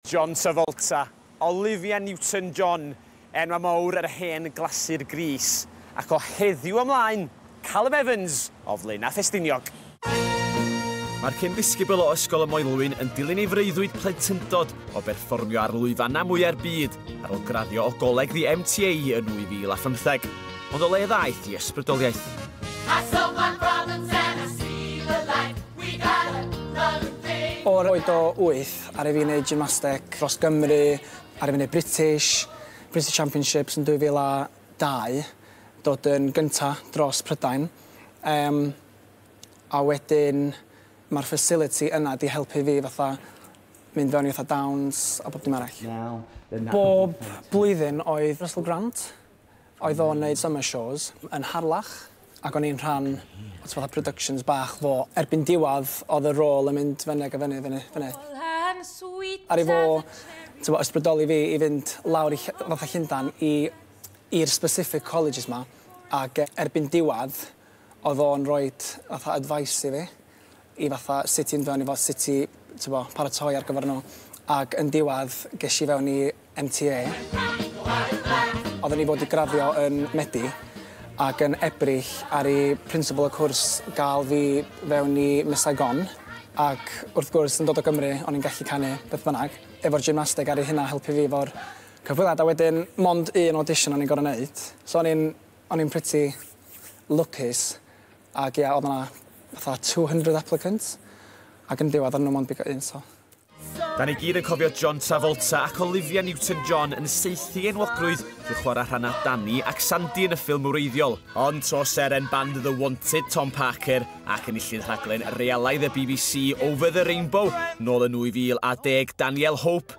John Travolta, Olivia Newton John, enwau mawr yr hen glasur Grease, ac o heddiw ymlaen, Calum Evans o Flaenau Ffestiniog. Mae'r cyn-ddisgybl o Ysgol y Moelwyn yn dilyn ei freuddwyd plentyndod o berfformio ar lwyfannau mwya'r byd ar ôl graddio o goleg The MTA yn 2015. Ond o le ddaeth ei ysbrydoliaeth? O'r oed o wyth, Aru fi wneud gymnasteg dros Gymru, aru fi wneud British, British Championships yn 2002, dod yn gynta dros Prydain, yym a wedyn ma'r facility yna 'di helpu fi fatha mynd fewn i fatha dawns a bob dim arall. Bob blwyddyn oedd Russell Grant, Oedd o'n neud summer shows yn Harlech ac o'n i'n rhan o fatha productions bach fo. Erbyn diwadd odd y rôl yn mynd fynne ag a fynne fynne fynne. Aru fo t'mo ysbrydoli fi i fynd lawr i ll- fatha Llundan i i'r specific colleges 'ma ag erbyn diwadd odd o'n roid fatha advice i fi. i fatha sut i fynd fewn i fo sut i t'bo paratoi ar gyfer n'w ag yn diwadd gesh i fewn i MTA. Odden ni fod i graddio yn Medi ag yn Ebrill aru principal y cwrs ga'l fi fewn i Miss Saigon ac wrth gwrs yn dod o Gymru o'n i'n gallu canu beth bynnag efo'r gymnasteg aru hynna helpu fi efo'r cyfweliad a wedyn mond un audition o'n i'n gor'o' neud so o'n i'n o'n i'n pretty lwcus. Ac ia oedd 'na fatha two hundred applicants ac yn diwadd o'n nhw mond bigo un so. Da ni gyd yn cofio John Travolta ac Olivia Newton John yn saethu enwogrwydd drwy chwarae rhannau Danny ac Sandy yn y ffilm wreiddiol, ond tro seren band The Wanted Tom Parker ac enillydd rhaglen realaaidd y bbc Over the Rainbow nôl yn 2010 Danielle Hope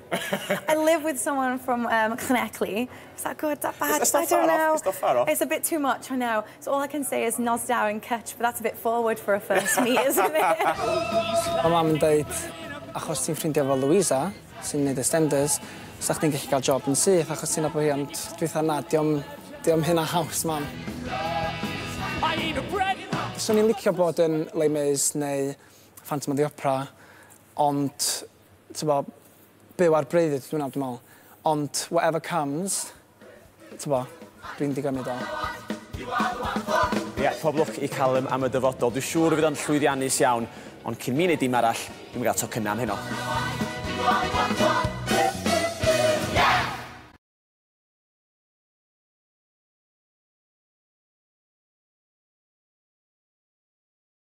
I live with someone from um, Llanelli. Is that good? Is that bad? It's, it's I don't know. It's not far off. It's a bit too much, I know. So all I can say is nos da yn cwtsh, but that's a bit forward for a first meet, isn't it? Mae mam yn dweud, achos ti'n ffrindiau fel Louisa, sy'n gwneud estenders, sa chdi'n gallu cael job yn syth, achos ti'n abwy hi, ond dwi'n na, diom, diom hyn a haws, mam. Swn i'n licio bod yn Les Mis neu Phantom of the Opera, Ond, t'bo, byw ar breuddwyd ydw i nawr dwi me'wl. Ond whatever comes, t'bo, dwi'n digon i do. Ie, pob lwc i Callum am y dyfodol. Dwi siŵr y fydd o'n llwyddiannus iawn. Ond cyn mi neud dim arall, dwi'm yn ga'l tocynna am heno.